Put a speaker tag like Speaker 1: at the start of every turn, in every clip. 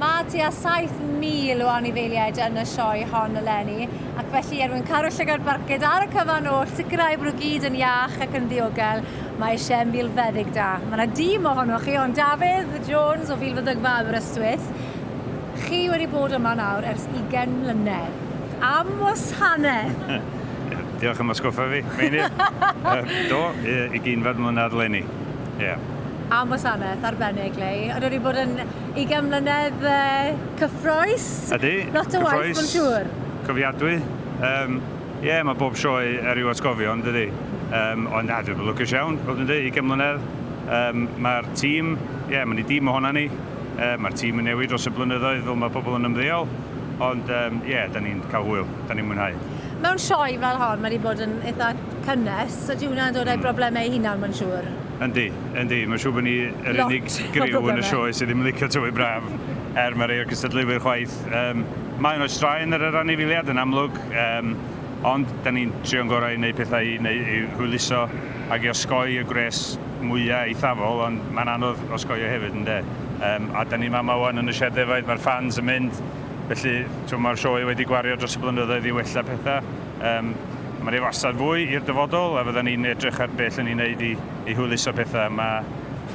Speaker 1: Mae tua 7,000 o anifeiliaid yn y sioe hon eleni, ac felly er mwyn caru'r llygad barcud ar y cyfan oll, sicrhau bod nhw gyd yn iach ac yn ddiogel, mae eisiau milfeddyg da. Mae yna dîm ohonoch chi, hon Dafydd Jones o Filfeddygfa Aberystwyth. Chi wedi bod yma nawr ers 20 mlynedd. Am wasanaeth! Diolch
Speaker 2: am atgoffa fi, Meinir. Do, 20 mlynedd eleni. Ie.
Speaker 1: Am wasanaeth arbennig Leigh. Ond wedi bod yn ugain mlynedd cyffroes. Ydy. Lot
Speaker 2: o waith mae'n
Speaker 1: siŵr. Cofiadwy.
Speaker 2: Yym ie mae bob sioe ar i'w atgofio yn dydy? Yym ond na dwi'n lwcus iawn i fod yn deu' ugain mlynedd. Yym mae'r tîm ie mae ni dîm ohonan ni. Yy mae'r tîm yn newid dros y blynyddoedd fel mae pobl yn ymddeol ond yym ie 'dan ni'n cael hwyl. 'Dan ni'n mwynhau. Mewn sioe fel
Speaker 1: hon mae 'di bod yn eitha cynnes, so dyw hwnna'n dod â'i broblemau ei hunan, mae'n siŵr. Yndi, yndi.
Speaker 2: Mae'n siŵr bod ni yr unig griw yn y sioe sydd ddim yn licio tywydd braf, er mae rhai o'r cystadleuwyr chwaith. Yym, mae yno straen ar yr anifeiliaid, yn amlwg, yym, ond da ni'n trio'n gorau i wneud pethau i, neu, i hwyluso ac i osgoi y gwres mwyaf eithafol, ond mae'n anodd osgoi o hefyd, ynde? Yym, a da ni'n fama wan yn y sied ddefaid, mae'r ffans yn mynd, felly, mae'r sioe wedi gwario dros y blynyddoedd i wella pethau. Yym, mae 'na wastad fwy i'r dyfodol a fyddan ni'n edrych ar beth 'lle ni'n neud i i hwyluso petha. Mae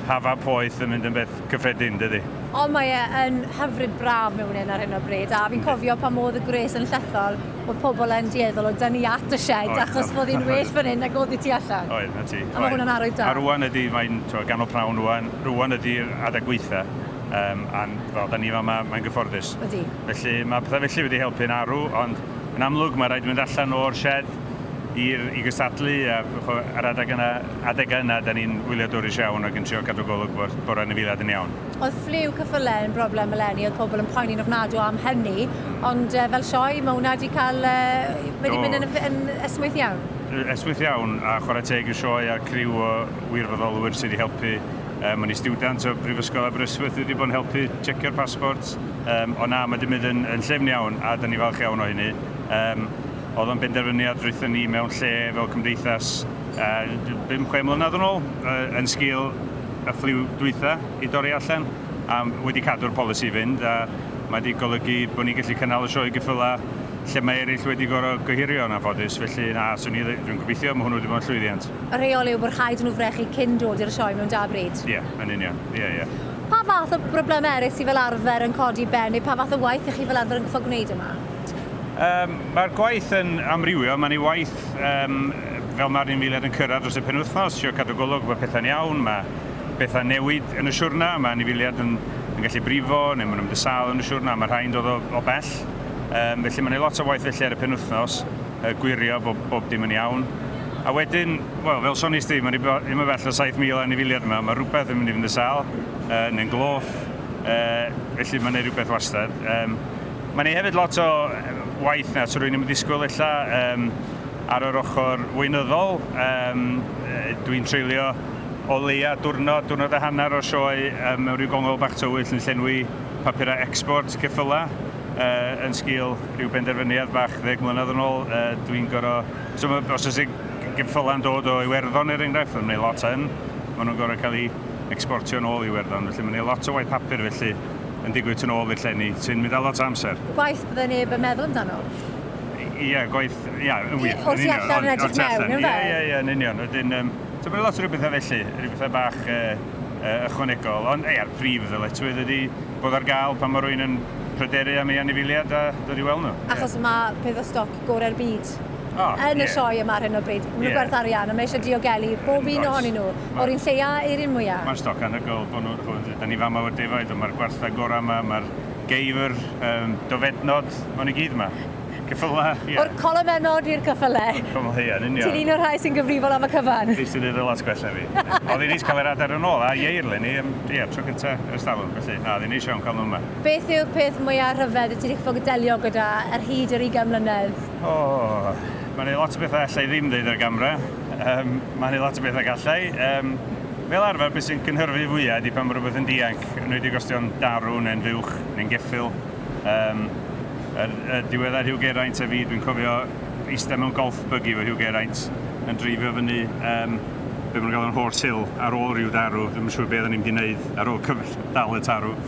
Speaker 2: hafau poeth yn mynd yn beth cyffredin, dydi? O, mae e yn
Speaker 1: hyfryd braf mewn un ar hyn o bryd, a fi'n cofio pan o'dd y gwres yn llethol, o'dd pobol yn dueddol o dynnu at y sied achos bod hi'n well fan 'yn nag o'dd i tu allan. Oedd, 'na ti. A ma' hwnna'n
Speaker 2: arwydd da. A rŵan
Speaker 1: ydi, mae'n,
Speaker 2: t'mo', ganol pnawn rŵan, rŵan ydi'r adeg gweitha, yym, a'n, wel, 'dan ni fama, mae'n gyfforddus. Ydi. Felly,
Speaker 1: ma' petha
Speaker 2: felly wedi helpu'n arw, ond, Yn amlwg, mae rhaid mynd allan o'r sied i'r, i gystadlu, a ch'mo', yr adeg yna, adegau yna, 'dan ni'n wyliadwrus iawn ac yn trio cadw golwg bod bod yr anifeiliaid yn iawn. Oedd ffliw cyffyle
Speaker 1: yn broblem eleni, oedd pobl yn poeni'n ofnadw am hynny, ond yy fel sioe, mae hwnna 'di cael yy, mae 'di mynd yn ymddi- yn esmwyth iawn. Yy esmwyth iawn,
Speaker 2: a chwarae teg i'r sioe a'r criw o wirfoddolwyr sy' 'di helpu, yym, o'n i stiwdant o Brifysgol Aberystwyth, dwi 'di bod yn helpu tshecio'r passports, Yym, ond na, mae 'di mynd yn, yn llyfn iawn, a da ni falch iawn o hynny. Yym, oedd o'n benderfyniad rwython ni mewn lle fel cymdeithas uh, bum, chwe mlynedd yn ôl, uh, yn sgil y ffliw dwytha i dorri allan, a wedi cadw'r polisi fynd, a mae wedi golygu bod ni'n gallu cynnal y sioe gyffylau lle mae eraill wedi gorau gohirio yn anffodus, felly na, swn i, dwi'n gobeithio, mae hwnnw wedi bod yn llwyddiant. Y rheol yw bod rhaid
Speaker 1: nhw frechu cyn dod i'r sioe mewn da bryd. Ie, yeah, yn union, ie, yeah, ie.
Speaker 2: Yeah. Pa fath
Speaker 1: o broblemau eraill sydd fel arfer yn codi ben neu pa fath o waith ych chi fel arfer yn gorfod gwneud yma? Yym,
Speaker 2: mae'r gwaith yn amrywio, mae'n ei waith yym fel mae'r un miliad yn cyrraedd dros y penwythnos, trio cadw golwg bod pethau'n iawn, mae pethau'n newid yn y siwrna, mae anifeiliaid yn, yn gallu brifo neu maen nhw'n mynd y sâl yn y siwrna, mae rhai'n dod o, o bell, um, felly mae'n ei lot o waith felly ar y penwythnos, uh, gwirio bod bob dim yn iawn. A wedyn Wel, fel sones di, mae'n ddim yn bell o 7,000 anifiliad yma, mae rhywbeth yn mynd i fynd yn sâl, uh, neu'n gloff, uh, felly mae'n ei rhywbeth wastad. Um, mae'n ei hefyd lot o waith na, so rwy'n ddim yn ddisgwyl illa um, ar yr ochr weinyddol. Um, Dwi'n treulio o leia diwrnod, diwrnod a hanner o sioe um, mewn rhyw gongol bach tywyll yn llenwi papurau export ceffylau uh, yn sgil rhyw benderfyniad bach ddeg mlynedd yn ôl. Uh, Dwi'n gorau So mae, os oes geffylau yn dod o Iwerddon er enghraifft, mae'n gwneud lot yn, maen nhw'n gorfod cael eu ecsportio yn ôl i Iwerddon, felly mae'n gwneud lot o waith papur felly yn digwydd tu ôl i'r llenni, sy'n mynd â lot o amser. Gwaith bydde neb yn
Speaker 1: meddwl amdano. Ie,
Speaker 2: gwaith, ie, yn wir, yn union. O'r tu
Speaker 1: allan yn edrych mewn, yn fe? Ie, ie, ie, yn union. Wedyn, um,
Speaker 2: so mae'n lot o rhywbethau felly, rhywbethau bach uh, uh, ychwanegol, ond ei, a'r prif ddyletswydd ydy bod ar gael pan mae rwy'n yn pryderu am ei anifiliad a dod i weld nhw. Achos yeah. mae peth o
Speaker 1: stoc gorau'r byd oh, yn yeah. y sioe yma ar hyn o bryd. Maen nhw'n yeah. gwerth arian, a mae eisiau diogelu bob un ohonyn nhw, o'r un lleia i'r un mwyaf. Mae'n stoc anhygoel bod
Speaker 2: nhw'n chwyd. Da ni fama o'r defaid, mae'r gwarthau gorau yma, mae'r geifr, um, dofednod, mae'n i gyd yma. Cyffyla, ie. Yeah. O'r colomennod
Speaker 1: i'r cyffyle. Cyffyla, ie, yn union. Ti'n un
Speaker 2: o'r rhai sy'n gyfrifol
Speaker 1: am y cyfan. Fi sy'n ei ddylas gwella
Speaker 2: fi. Oedd hi'n neis cael yr adar yn ôl, a ieir le ni, ie, tro cyntaf ers dalwm, felly, na, oedd hi'n neis iawn cael nhw yma. Beth yw'r peth mwya'
Speaker 1: rhyfedd wyt ti 'di ffwg delio gyda ar hyd yr ugain mlynedd? O!
Speaker 2: Ma' 'ne lot o betha' alla i ddim ddeud ar gamra. Yym, ma' 'ne lot o betha' galla i. Yym, fel arfer be' sy'n cynhyrfu fwya' ydi pan ma' rwbeth yn dianc, enwedig os 'di o'n darw ne'n fuwch ne'n geffyl. Yym, yr yy diweddar Hugh Geraint a fi, dwi'n cofio ista mewn golf buggy efo Hugh Geraint yn dreifio fyny yym be' ma' nhw'n galw'n Horse Hill ar ôl ryw darw, dwi'm yn siŵr be' oddan ni'n mynd i neud ar ôl cyfr- dal y tarw.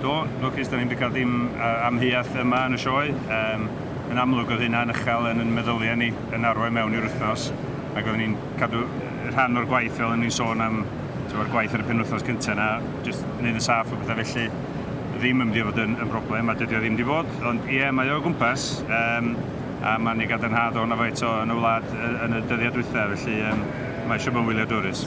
Speaker 1: Do, lwcus,
Speaker 2: dan ni'm di cael dim amheuaeth yma yn y sioe. Yym, yn amlwg oedd hynna'n uchel yn yn meddyliau ni yn arwain mewn i'r wythnos, ac oedden ni'n cadw rhan o'r gwaith fel o'n ni'n sôn am, t'mod, yr gwaith ar y penwythnos cynta 'na, jyst neud yn saff a petha felly, ddim yn mynd i fod yn yn broblem, a dydi o ddim di bod, ond ie, mae o o gwmpas, yym, a ma'n ei gadarnhad o' 'na faint o yn y wlad yy yn y dyddiau dwytha, felly yym, mae eisiau bod yn wyliadwrus.